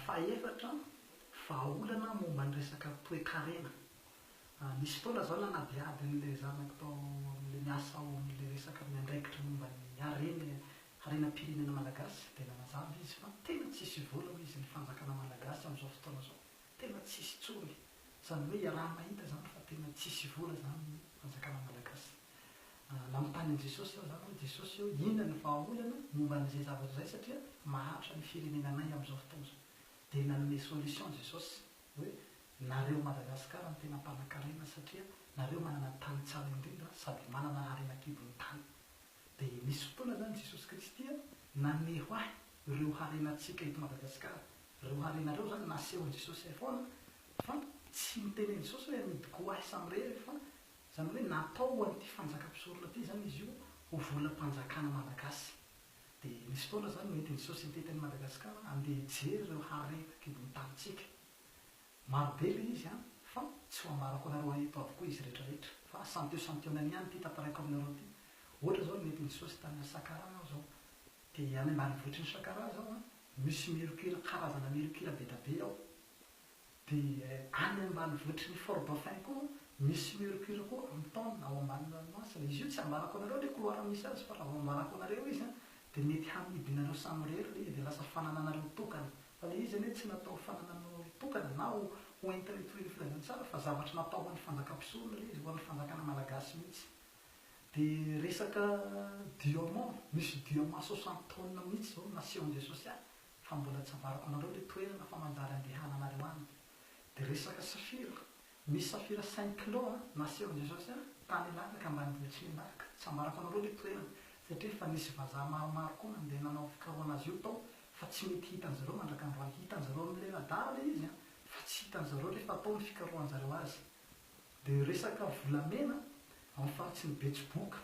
Fahefatra, vahaolana momba ny resaka toekarena. Nisy fotoana izaho nanadihady an'ilay zanako tao amin'ilay miasa ao amin'ilay resaka miandraikitra momba ny harena, harenam-pirenena malagasy, dia nanazava izy fa tena tsisy vola hoy izy ny fanjakana malagasy amin'izao fotoana izao, tena tsisy intsony. Izany hoe iaraha-mahita izany fa tena tsisy vola izany ny fanjakana malagasy. Nanontany an'i Jesosy aho izany hoe, Jesosy ô, inona ny vahaolana momba an'izay zavatra izay satria mahantra ny firenenanay amin'izao fotoana izao? Dia nanome solution Jesosy hoe, nareo Madagascar no tena mpanankarena satria nareo manana tany tsara indrindra sady manana harena kibon'ny tany. Dia nisy fotoana izany Jesosy Kristy naneho ahy ireo harenantsika eto Madagascar. Ireo harena ireo izany nasehon'i Jesosy ahy foana fa tsy niteny an'i Jesosy hoe hanidiko ho ahy samirery fa Izany hoe natao ho an'ity fanjakam-pisorona ity izany izy io ho volam-panjakana malagasy. Dia misy fotoana izany mety ny société teny Madagasikara handeha hijery ireo harena an-kibon'ny tanintsika. Marobe ilay izy an! fa tsy ho ambarako anareo eto avokoa izy rehetra rehetra fa santio santionany ihany ity tantaraiko aminareo ity. Ohatra izao ny mety ny sosy tany Sakaraha aho izao. Dia any ambanivohitry ny Sakaraha izao an, misy mercure karazana mercure be dia be ao. Dia any ambanivotry ny Fort Dauphin koa misy mercure koa amin'ny taona ao ambanin'ny ranomasina. Izy io tsy ambarako anareo ilay couloir misy azy fa raha vao ambarako anareo izy an dia mety hamidinareo samirery ilay izy dia lasa fanananareo tokana. Fa ilay izy anie tsy natao ho fanananao tokana na ho ho entinay toy ny filazantsara fa zavatra natao ho an'ny fanjakam-pisorona ilay izy, ho an'ny fanjakana malagasy mihitsy. Dia resaka diamant, misy diamant soixante tonnes mihitsy izao naseho an'i Jesosy ahy fa mbola tsy avariko anareo le toerana fa manjary andehananareo any de resaka safira misy safira cinq kilos a nasehon-dry zao zay tany ilanaka ambanivolo tsy milatika tsy ambarako anareo le toerana satria efa nisy vazaha maromaro koa nandeha nanao fikarohana azy io tao fa tsy mety hitan-dry zareo mandraka androany hitan-dry zareo amle radar le izy a fa tsy hitan-dry zareo refa atao ny fikarohan-dry zareo azy de resaka volamena ao ny faritriny betsiboka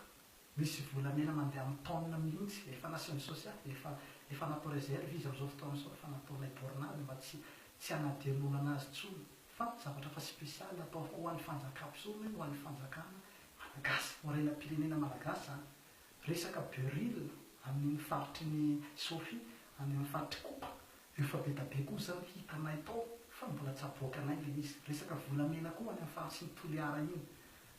Misy volamena mandeha amin'ny tonne mihitsy, efa nasiany sosia, efa efa natao reserve izy amin'izao fotoana izao, efa nataonay borne azy mba tsy tsy hanadino olana azy intsony, fa zavatra efa spécial atao ho an'ny fanjakam-pison hoe ho an'ny fanjakana malagasy, ho renam-pirenena malagasy izany. Resaka buril amin'iny faritry ny Sofi, any amin'ny faritry Kopa, efa be da be koa izany hitanay tao, fa mbola tsy aboakanay ilay izy. Resaka volamena koa any amin'ny faritry ny Toliara iny,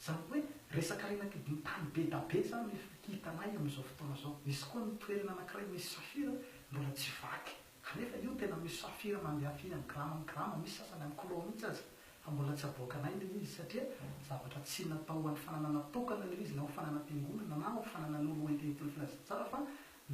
Zany hoe resaka rena kidiny tany be da be zany efa hitanay amin'izao fotoana zao. Misy koa ny toerana anakiray misy safira mbola tsy vaky. Kanefa io tena misy safira mandeha firy any grama any grama misy sasany any kilao mihitsy aza. Fa mbola tsy aboakanay le izy satria zavatra tsy natao ho an'ny fananana tokana le izy na ho fananam-piangonana na ho fananan'olo hoentihentiny filazantsara fa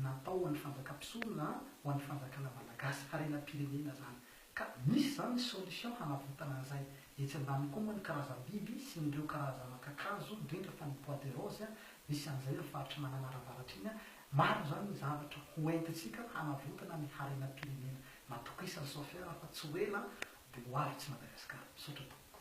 natao ho an'ny fanjakam-pisorona ho an'ny fanjakana malagasy, harenam-pirenena zany. Ka misy zany ny solution hanavotana an'izay. Etsy ambany koa moa ny karazam-biby sy ny ireo karazana kakazo, indrindra fa ny bois de rose, misy an'izay eo faritry Mananara avaratra iny. Maro zany ny zavatra ho entintsika hanavotana ny harenam-pirenena. Matokisany Sofia fa tsy ho ela dia ho avy tsy Madagascar. Misaotra tompoko.